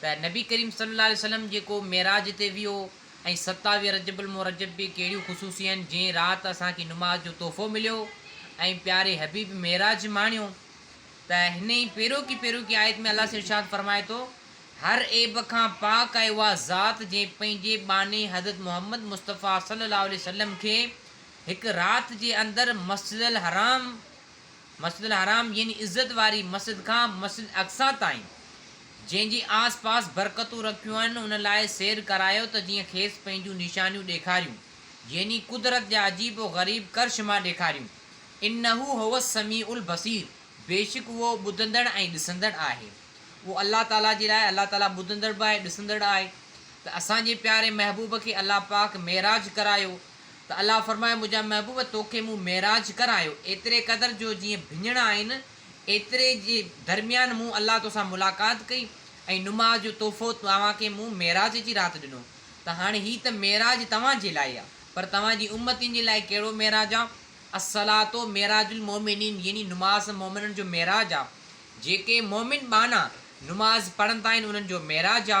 ته نبي ڪريم صلي الله عليه وسلم جيڪو معراج تي ويو ۽ ستاويهه رجب المرجب به ڪهڙيون خصوصيون آهن جنهن رات اسان کي نماز جو تحفو مليو ۽ پياري حبيب معراج ماڻيو ته هن ئي پيروڪي پيروڪي آيت ۾ الله سائين ارشاد فرمائي ٿو هر عيب کان پاڪ آهي اها ذات جنهن پنهنجي ٻانهي حضرت محمد مصطفيٰ صلي الله عليه وسلم کي هڪ رات جي اندر مسجد الحرام مسجد الحرام يعني عزت واري مسجد کان مسجد اقصيٰ تائين جنهن جي آس پاس برڪتون رکيون آهن ان لاء سير ڪرايو ته جيئن کيس پنهنجون نشانيون ڏيکاريون يعني قدرت جا عجيب و غريب ڪرشما ڏيکاريون انه هو السميع البصير بيشڪ اهو ٻڌندڙ ۽ ڏسندڙ آهي اهو الله تعالي جي لاء الله تعالي ٻڌندڙ به آهي ڏسندڙ آهي ته اسان جي پياري محبوب کي الله پاڪ معراج ڪرايو ته الله فرمايو، منهنجا محبوب توکي مون معراج ڪرايو، ايتري قدر جو جيئن ڀڃڻ آهن، ايتري جي درميان مون الله توسان ملاقات ڪئي ۽ نماز جو تحفو توهان کي مون معراج جي رات ڏنو ته هاڻي هي ته معراج توهان جي لاء آ پر توهان جي امتين جي لاء ڪهڙو معراج آ؟ الصلوة معراج المومنين يعني نماز مومنن جو معراج آ، جيڪي مومن ٻانها نماز پڙهندا آهن انهن جو معراج آ.